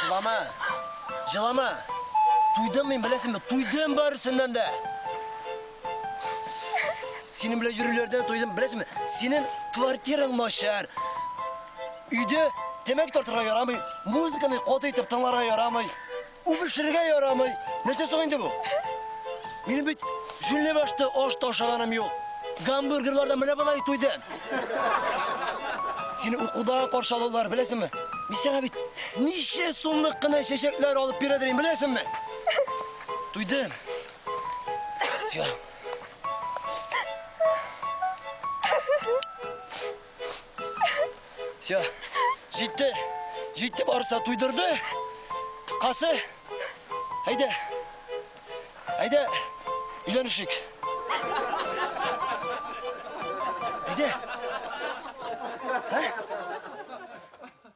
Җылама! Җылама! Туйдым мин, беләсеңме? Туйдым барысыннан да! Синең белән йөрүләрдән туйдым, беләсеңме? Синең квартираң начар. Өйдә тәмәке тартырга ярамый, музыканы каты итеп тыңларга ярамый. Үбешергә ярамый. Нәрсә соң инде бу? Минем бит җүнле башты аш ташаганым юк. Гамбургерлардан менә болай туйдым. Сине укуда каршы алулар, беләсеңме? Мин сиңа бит ничә сумлык кына чәчәкләр алып бирәдер инде, беләсеңме? Туйдым. Сион. Все. Җитте. Җитте барса туйдырды. Кыскасы. Әйдә. Әйдә. Өйләнешик. Әйдә. Ә?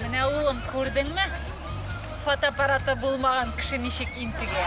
Менә улым, күрдеңме? Фотоаппараты булмаган кеше ничек интегә.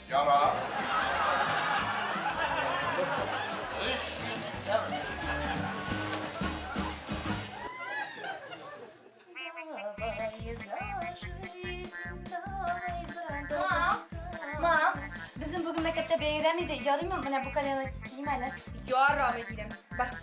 Ярар. Өч минуттан өч. Мам, безнең бүген мәктәптә бәйрәм иде. Ярыймы менә бу колены кием әле? Ярамый дидем. Бар.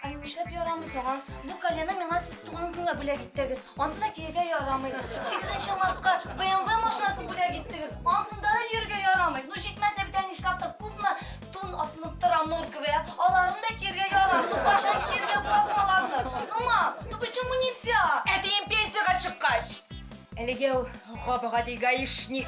Ә нишләп ярамый соң? Бу колены миңа сез туган көнгә бүләк иттегез. Ансыз да кияргә ярамый. Сигезенче мартка BMW машинасы бүләк иттегез. Ансында да йөрергә ярамый. Ну җитмәсә бит әни шкафта күпме тун асылып тора норковый, ә? Аларын да кияргә ярамый. Ну кайчан кияргә буласың аларны? Ну ма, ну почему нельзя? Әтием пенсиягә чыккач. Әлегә ул гап-гади гаишник.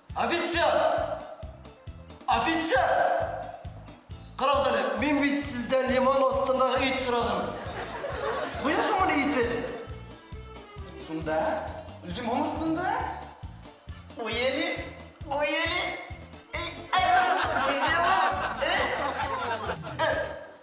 Офицер! Офицер! Карагыз әле, мин бит сездән лимон астындагы ит сорадым. Куясыңмыни итен? Шунда, лимон астында. Уели, уели.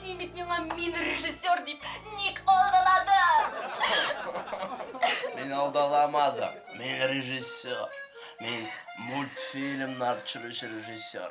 Син бит миңа мин режиссер дип ник алдаладың? Мин алдаламадым. Мин режиссер. Мин мультфильмнар төшерүче режиссер.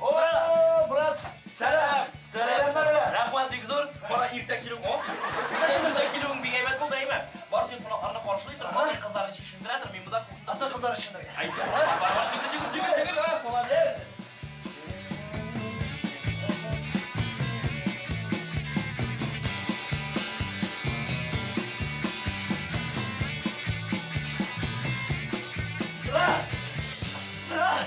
О, брат! Сәлам! Сәлам, сәлам! Рәхмәт бик зур. Бара иртә килү ул. Иртә килүең бик әйбәт булды, әйме? Бар син кунакларны каршылый тор, бар кызларны чишендерә тор, мин монда ата кызлар өчен дә. Әйдә. Бар, бар, чигел, чигел, чигел, чигел, а, молодец. Брат! Брат!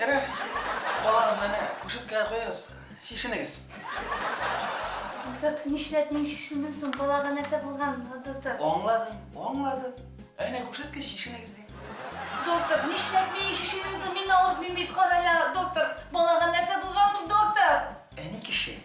Ярар, балагызны әнә кушеткәгә куегыз, чишенегез. Дутык, нишләп мин шешендем соң? Балага нәрсә булган, Дутык? Аңладым, аңладым. Әнә күрсәткәч шешенегез дим. Доктор, нишләп мин шешенем соң? Мин авыртмыйм бит, карала, доктор. Балага нәрсә булган соң, доктор? Әни кеше.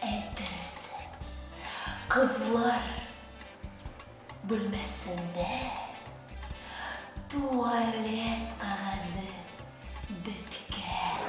Әйтерсең, кызлар бүлмәсендә туалет кагазе беткән.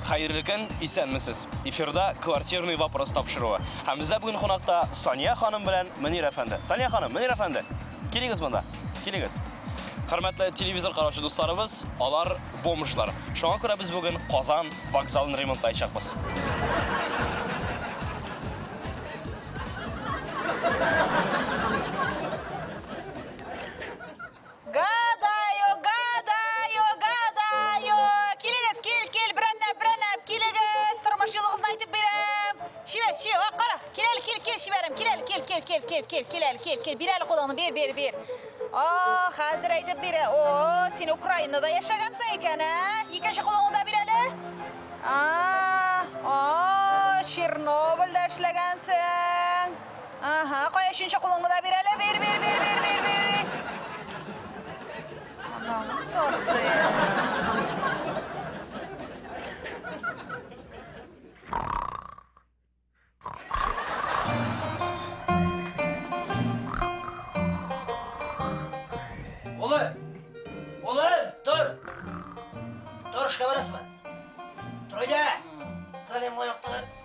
Хәерле көн, исәнмесез. Эфирда квартирный вопрос тапшыруы. Һәм бездә бүген кунакта Сания ханым белән Мөнир әфәнде. Сания ханым, Мөнир әфәнде, килегез монда. Килегез. Хөрмәтле телевизор караучы дусларыбыз, алар бомжлар. Шуңа күрә без бүген Казан вокзалын ремонтлаячакбыз. Гадаю, гадаю, гадаю. Килегез, кил, кил, берәннәп, берәннәп, килегез. Тормыш юлыгызны әйтеп бирәм. Шибә, ши, ак кара. Кил әле, кил, кил, шибәрем. Кил әле, кил, кил, кил, кил, кил, кил әле, кил, кил. Бир әле кулыңны, бир, бир, бир. О, хәзер әйтеп бирә. О, син Украинада яшәгәнсең икән, ә? Икенче кулыңны да бир әле. А, а, Чернобыльдә эшләгәнсең. Ага, кая өченче кулыңны да бир әле. Бир, бир, бир, бир, бир, бир. бир. Анаңы сорды. Улы! Улым, тор! Тор, эшкә барасыңмы? Тор, әйдә! Калем аяктан.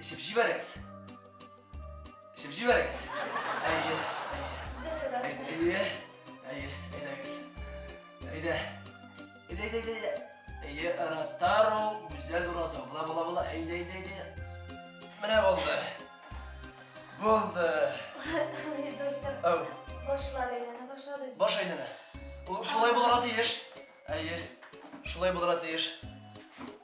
Эчеп җибәрегез. Эчеп җибәрегез. Әйе, әйе. Әйе, әйдәгез. Әйдә. Әйдә, әйдә, әйдә. Әйе, Ротару, Гүзәл Уразова. Була, була, була. Әйдә, әйдә, әйдә. Менә булды. Булды. Доктор. Ау. Башлады, әйләнә башлады. Баш әйләнә. Ул шулай булырга тиеш. Әйе. Шулай булырга тиеш.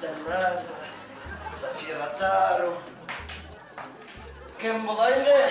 Зараза, Зафира Тару. Кем була инде?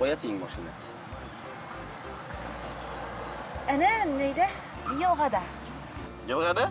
Кая синең машина? Әнә, нәйдә? Елгада. Елгада?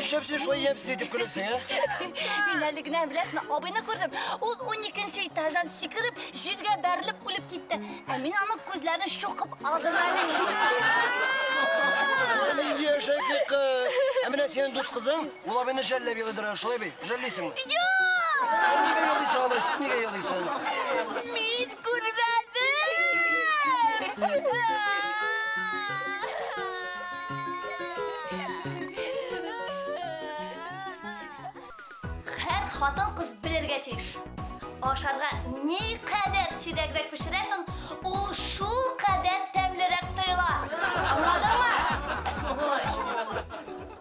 Нишләп син шулай ямьсез итеп көләсең, ә? Мин әле генә беләсеңме, абыйны күрдем. Ул 12 этаждан сикереп, җиргә бәрелеп үлеп китте. Ә мин аның күзләрен чукып алдым әле. Нинди әшәке кыз! Ә менә синең дус кызың? Ул абыйны жәлләп елыйдыр, шулай бит? Жәллисеңме? Юк! Нигә елыйсың, алай итеп, нигә елыйсың? Мин күрмәдем! Хәр хатын кыз белергә тиеш. Ашарга ни кадәр сирәгрәк пешерәсең, ул шул кадәр тәмлерәк тоела. Аңладыңмы?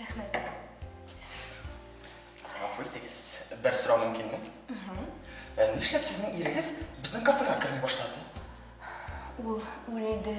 Рәхмәт. Гафу итегез, бер сорау мөмкинме? Ә нишләп сезнең ирегез безнең кафега керми башлады? Ул үлде.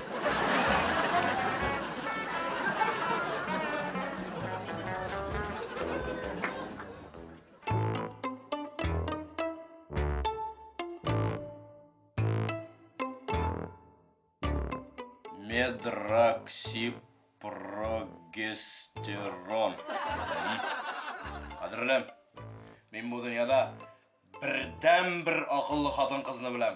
Медроксипрогестерон. Кадерлем, мин бу дөньяда бердән бер акыллы хатын кызны беләм.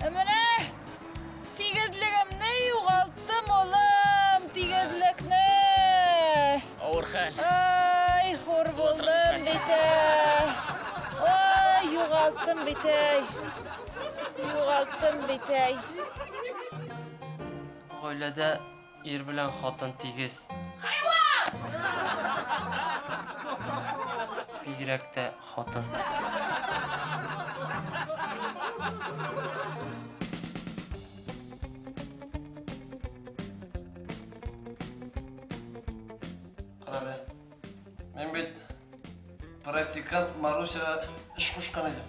Ә менә тигезлегемне югалттым, улым, тигезлекне. Авыр хәл. Ай, хур булдым бит әй. Ай, югалттым бит әй. Югалттым бит әй. Гаиләдә Ир белән хатын тигез. Хайван! Бигрәк тә хатын. Карале. Мин бит практикант Марусяга эш кушкан идем.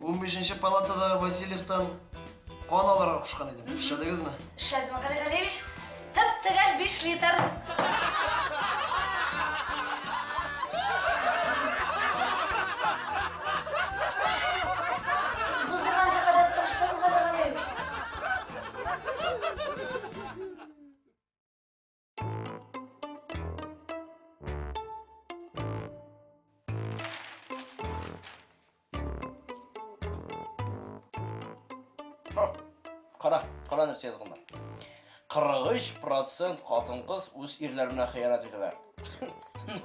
Унбишенче палатадагы Васильевтан кан алырга кушкан идем. Эшләдегезме? Эшләдем, Гали Галиевич. Тып-төгәл биш литр. Булдырганча кадәр тырыштым, Гали Галиевич. Кара, кара нәрсә язганнар. 43% хатын-кыз үз ирләренә хыянат итәләр.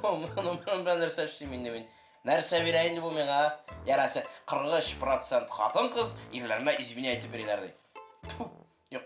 Ну, ну, ну, нәрсә эшлим инде мин? Нәрсә бирә инде бу миңа? Яраса 43% хатын-кыз ирләренә изменя итеп бирәләр ди. Юк,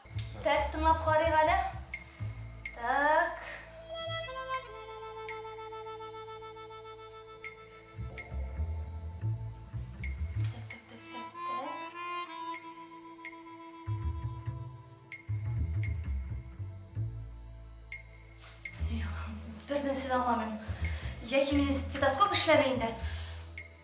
Так, тыңлап карыйк әле. Так. Юк, бернәрсә дә аңламыйм. Яки минем стетоскоп эшләми инде.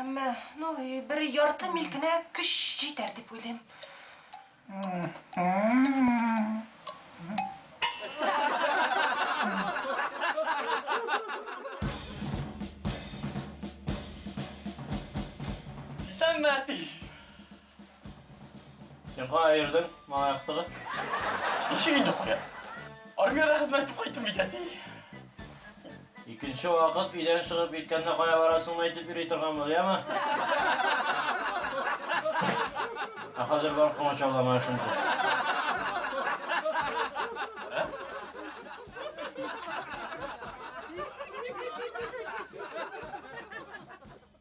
Әмма, ну, бер ярты мил генә көч җитәр дип уйлыйм. Исәнме, әти! Сен кая йөрдең, малай актыгы? Ничек инде куя? Армиядә хезмәт итеп кайттым бит, әти. Икенче вакыт өйдән чыгып киткәндә кая барасыңны әйтеп йөри торган бул, яме? Ә хәзер бар комач аулама эшен тот.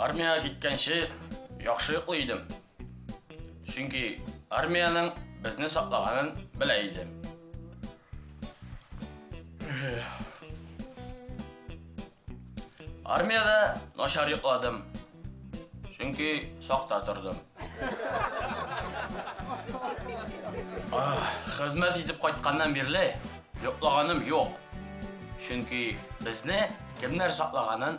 Армияга киткәнче яхшы йоклый идем. Чөнки армиянең безне саклаганын белә идем. Армияда начар йокладым. Чөнки сакта тордым. Хезмәт итеп кайтканнан бирле йоклаганым юк. Чөнки безне кемнәр саклаганын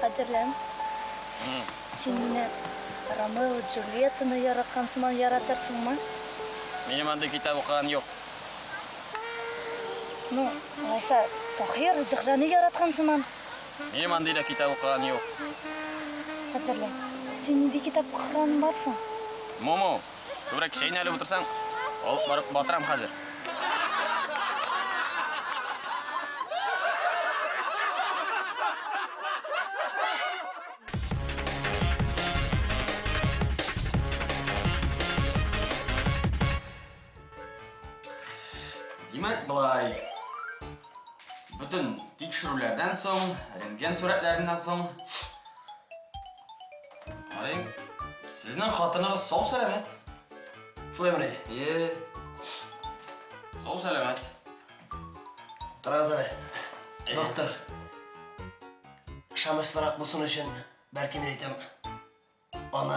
Хәтерләм. Син менә Ромео Джульеттаны яраткан сыман яратырсыңмы? Минем андый китап укыган юк. Ну, алайса, Тахир Зөһрәне яраткан сыман. Минем андый да китап укыган юк. Хәтерләм. Син нинди китап укыган барсың? Муму. Күбрәк чәйне әле утырсаң, алып барып батырам хәзер. Димәк, былай. Бүтән тикшерүләрдән соң, рентген сурәтләреннән соң Ай, сезнең хатыныгыз сау сәламәт. Шулай менә. Е. Сау сәламәт. Тораз әле. Доктор. Ышанычлырак булсын өчен, бәлки мин әйтәм. Аны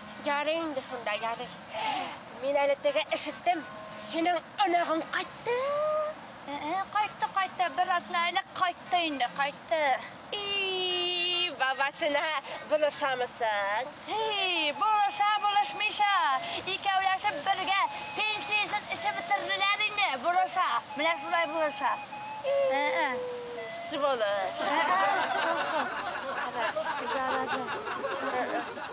Ярый инде шунда, ярый. Мин әле теге ишеттем, синең оныгың кайтты. Ә-ә, кайтты, кайтты, бер атна элек кайтты инде, кайтты. И, бабасына булышамысың? Һи, булыша, булышмыйча. Икәүләшеп бергә пенсиясен эчеп бетерделәр инде, булыша. Менә шулай булыша. Ә-ә. Сволочь. Ә-ә, шул, шул. Зараза.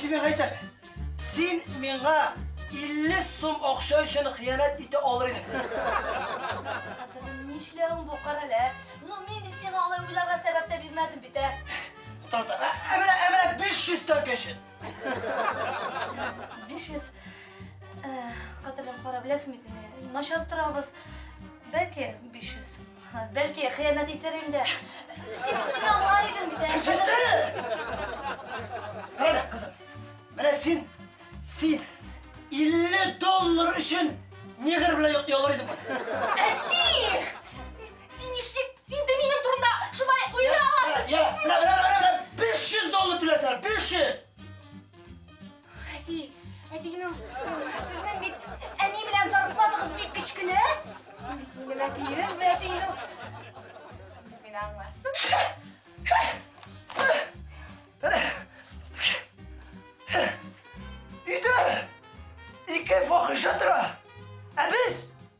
Симе гайтәр. Син миңа 50 сум акча өчен хыянәт итә алыр идең. Нишләвең бу карале? Ну мин бит сиңа алай уйларга сәбәп тә бирмәдем бит, ә? Тата, әмрә, әмрә 500 тәңкә өчен. Биш йөз кадерле кара беләсең бит инде. Начар торабыз. Бәлки 500. Бәлки хыянәт итәр инде. Син бит мине аңлар идең бит. Менә кызым. Менә син син 50 доллар өчен негр белән ялгар идең. Әти! Син ничек инде минем турында шулай уйлый аласың? Я, я, менә, менә, менә, менә, 500 доллар түләсәләр, 500! Әти, әти, ну, сезнең бит әни белән зарплатагыз бик кечкенә. Син бит минем әтием, әти, ну. Син бит мине аңларсың.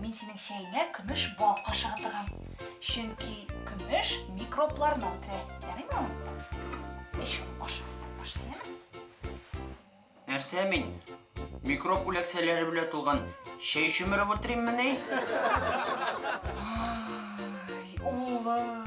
Мин синең чәеңә көмеш бал кашыгы тыгам. Чөнки көмеш микробларны үтерә. Ярыймы? Эч, аша, аша, Нәрсә мин? Микроб үләксәләре белән тулган чәй чөмереп утыриммени? Улым.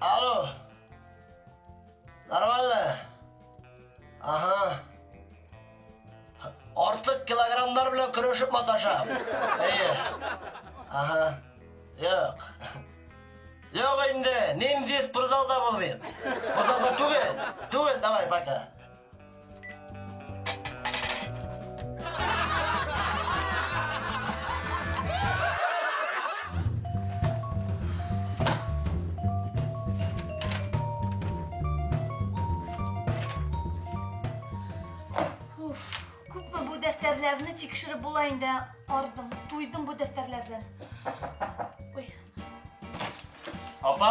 Алло. Нормально? Ага. Артык килограммдар белән көрәшеп маташам. Әйе. Ага. Юк. Юк инде, нинди спортзалда булмыйм. Спортзалда түгел. Түгел, давай, пока. дәфтәрләрне тикшереп була инде. Ардым, туйдым бу дәфтәрләрдән. Ой. Апа,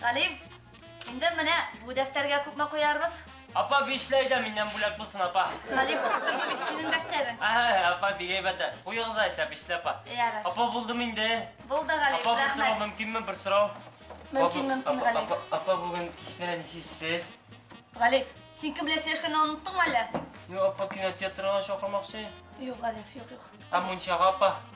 Галим, инде менә бу дәфтәргә күпме куярбыз? Апа, бишләй дә миннән бүләк булсын, апа. Галим, күптер бу бит синең дәфтәрең. Ә, апа, бик әйбәт. Куегыз айса, бишле апа. Ярар. Апа, булдымы инде? Булды, Галим, Апа, бер сорау рәхмәт. мөмкинме, бер сорау? Мөмкин, Апа, мөмкин, апа, Галим. апа, Апа, бүген кич белән нисез? Галим, син кем белән сөйләшкәнне оныттыңмы әллә? Ну, апа, кинотеатрга чакырмакчы. Юк, Галим, юк, юк. Ә мунчага, апа?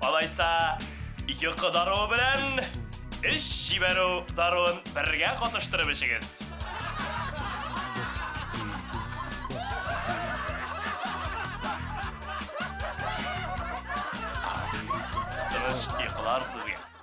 Алайса, йокы даруы белән эш җибәрү даруын бергә катыштырып эчегез. Тыныч йокылар сезгә.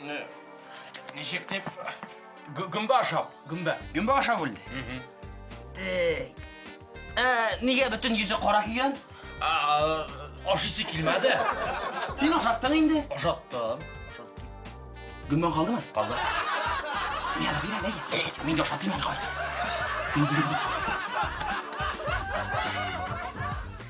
Менә ничек дип гөмбә ашап, гөмбә. Гөмбә ашап үлде. Так. Ә нигә бөтен йөзе кара кигән? Ашыйсы килмәде. Син ашаттың инде. Ашаттым. Гөмбәң калдымы? Калды. Бир әле, бир әле. Мин ашатыйм әле, кайт.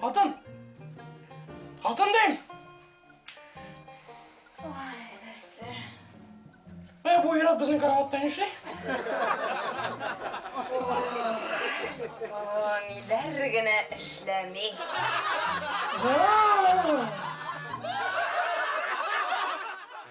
Хатын! Хатын дим! Ой, нәрсә? Ә, бу ират безнең караватта нишли? О, ниләр генә эшләми. Вау!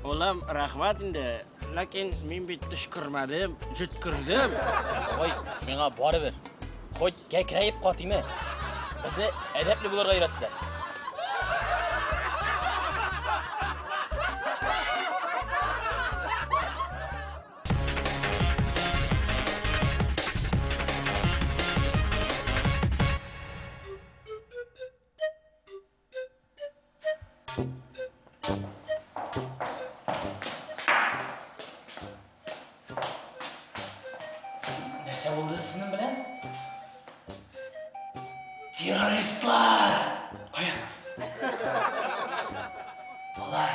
Улым, рәхмәт инде, ләкин мин бит төшкермәдем, җөткердем. Ой, миңа барыбер. Хоть кәкрәеп катыймы. Безне әдәпле булырга өйрәттеләр. Нәрсә булды сезнең белән? Террористлар! Кая? Алар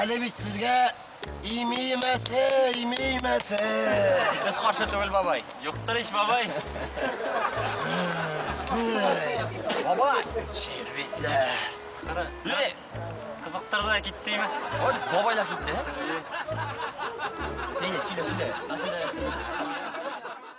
Әле бит сезгә имеймәсе, имеймәсе. Без каршы түгел, бабай. Юктыр ич, бабай. Бабай! Шербетләр. Кара. Кызыктырды да киттеме? Вот бабай да китте. Әйе, сөйлә, сөйлә. Сөйлә, сөйлә.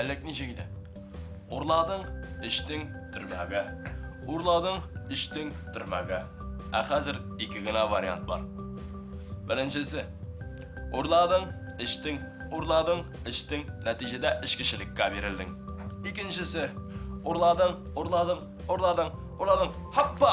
Әлек ничек иде? Урладың, эчтең, төрмәгә. Урладың, эчтең, төрмәгә. Ә хәзер ике генә вариант бар. Беренчесе. Урладың, эчтең, урладың, эчтең, нәтиҗәдә эчкечелеккә бирелдең. Икенчесе. Урладың, урладың, урладың, урладың. Хаппа!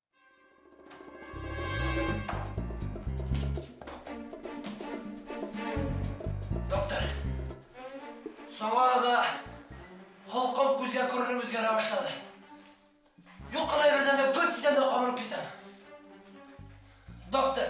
Доктор, соңгы арада холкым күзгә күренеп үзгәрә башлады. Юк кына бердән дә гөр тиздән дә кабынып китәм. Доктор,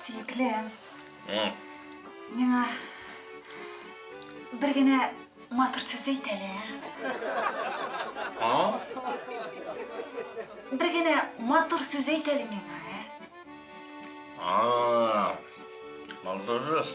Сөеклем. Миңа бер генә матур сүз әйт әле. А? Бер генә матур сүз әйт әле миңа, ә? А. Матур сүз.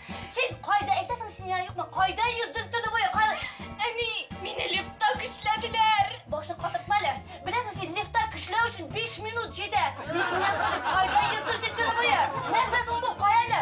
Син кайда әйтәсең, семья юкмы? Кайда йөрдең төне буе? Кай... Әни, мине лифтта көчләделәр. Башны катыртма әле. Беләсең, син лифтта көчләү өчен 5 минут җитә. Ни семья юкмы дип, кайда йөрдең син төне буе? Нәрсә соң бу, кая әле?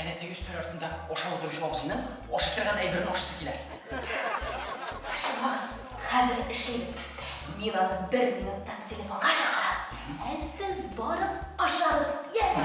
Әнә теге өстәл артында ашау утыручы абзыйның ашый торган әйберен ашыйсы килә. Ашыгыз, хәзер эшлибез. Мин аны бер минуттан телефонга чакырам, ә сез барып ашагыз, яме!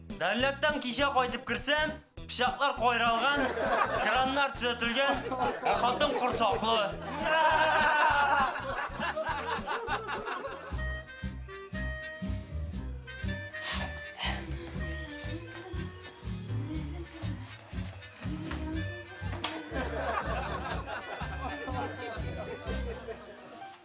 Дәрләктән кичә кайтып керсәм, пычаклар кайралган, краннар төзәтелгән, ә хатын корсаклы.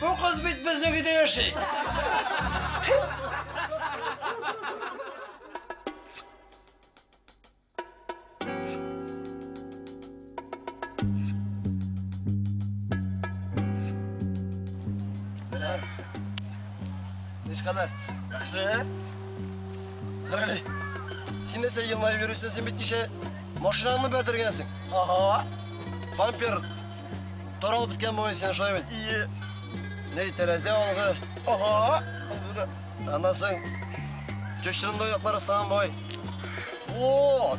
Бу кыз бит безнең өйдә яши. Нишкалар? Яхшы. Хәле. Син нәрсә елмаеп йөрисең? Син бит кичә машинаңны бәрдергәнсең. Ага. Бампер Таралып беткән бугай сине шулай бит. Ие. Ней тәрәзә алды. Ага. Аннан соң чүчрендой яклары саган бугай. Вот.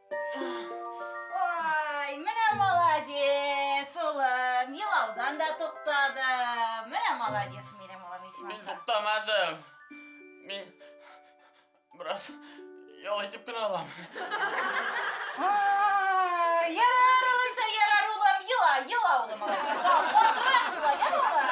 Ой, менә молодец, улым, елаудан да туктады. Менә молодец минем улым ичмаса. Мин туктамадым. Мин бераз ял итеп кенә алам. Ярар, улайса, ярар, улым, ела, ела, улым, улайса. Тау, катырак ела, ял ала.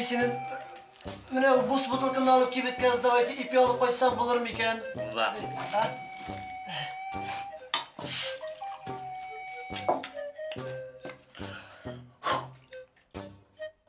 синен менә бус бутылканы алып кибет газдавайте ипи алып кайтсак булыр микән? Була.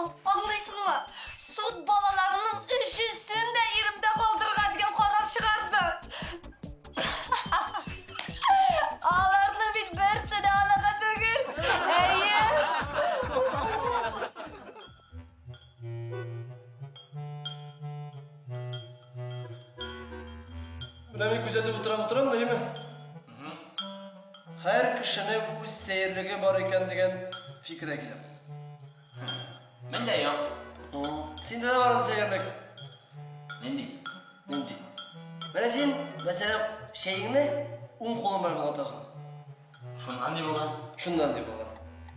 Аңлыйсыңмы? Суд балаларымның өчесен дә иремдә калдырырга дигән карар чыгарды. Аларның бит берсе дә анага түгел. Әйе. Менә мин күзәтеп утырам, утырам да, әйеме? Һәр кешенең үз сәерлеге бар икән дигән фикергә киләм. Миндә юк. Синдә дә бардыр сәерлек. Нинди? Нинди? Менә син, мәсәлән, чәеңне уң кулың белән генә ватасың. Шуннан ни булган? Шуннан ни булган?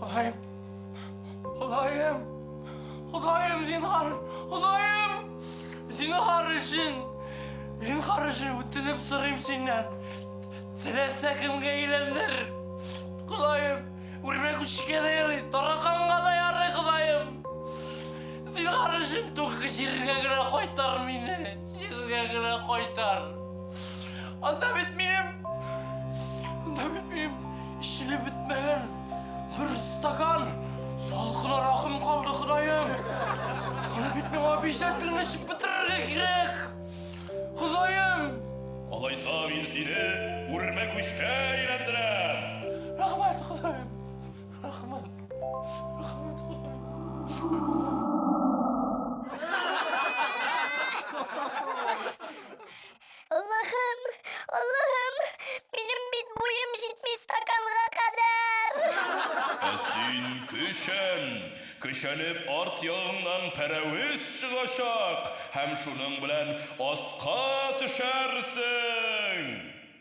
Ходаем, Ходаем, Ходаем, зинхар, Ходаем, зинхар өчен, зинхар өчен үтенеп сорыйм синнән. Теләсә кемгә әйләндер. Ходаем, үрмә күчкә дә ярый, тараканга да ярый, Ходаем. Зинхар өчен түгел җиргә генә кайтар мине. Җиргә генә кайтар. Анда бит минем... Анда бит минем эчеле бетмәгән бер стакан салкын аракым калды, Ходаем. Аны бит миңа бишән телне эчеп бетерергә кирәк. Ходаем! Алайса мин сине үрмәк үчкә әйләндерәм. Рәхмәт, Ходаем. Рахман. Аллахым, Аллахым, минем бит буем җитми стаканга кадәр. Ә син көчән! Көчәнеп арт ягыңнан пәрәвез чыгачак һәм шуның белән аска төшәрсең!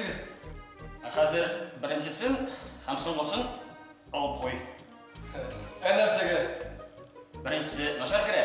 Әйтегез. Ә хәзер беренчесен һәм соңгысын алып куй. Ә нәрсәгә? Беренчесе начар керә.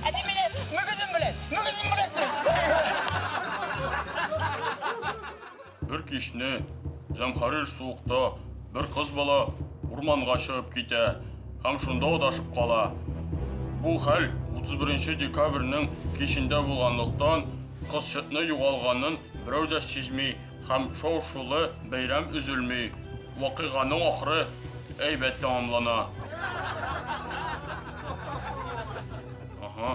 Ә син мине мөгезем белән, мөгезем белән сүз. Бер кичне зәмхәрир суыкта бер кыз бала урманга чыгып китә һәм шунда адашып кала. Бу хәл 31 декабрьнең кичендә булганлыктан, кызчыкны югалганын берәү дә сизми һәм шау-шулы бәйрәм өзелми. Вакыйганың ахыры әйбәт тәмамлана. Ага.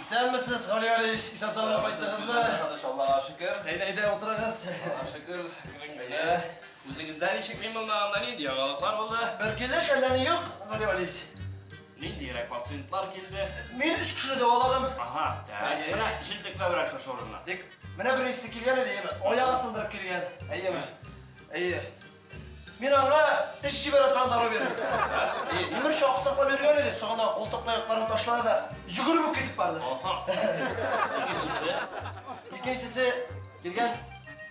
Исәнмесез, Гали Алиевич, исән сау кайттыгызмы? Тыныч Аллага шөкер. Әйдә, әйдә, утырыгыз. Аллага шөкер, килен генә. Үзегездә ничек мин булмаганда нинди яңалыклар булды? Бер килеш әллә ни юк, Гали Алиевич. Ниндиерәк пациентлар килде? Мин өч кешене дәваладым. Ага, так. Менә җентекләбрәк шушы урыннан. Тик менә беренчесе килгән иде, әйеме? Аягы сындырып килгән, әйеме? Әйе. Мин аңа теш җибәрә торган дару бирдем. Имеш, аксакла биргән иде, сагына култык таякларын ташлады да, җөгереп үк китеп барды. Аха. Икенчесе? Икенчесе килгән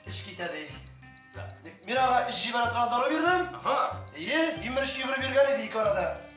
эш китә ди. Мин аңа эш җибәрә торган дару бирдем. Әйе, имеш, йөгереп йөргән иде ике арада.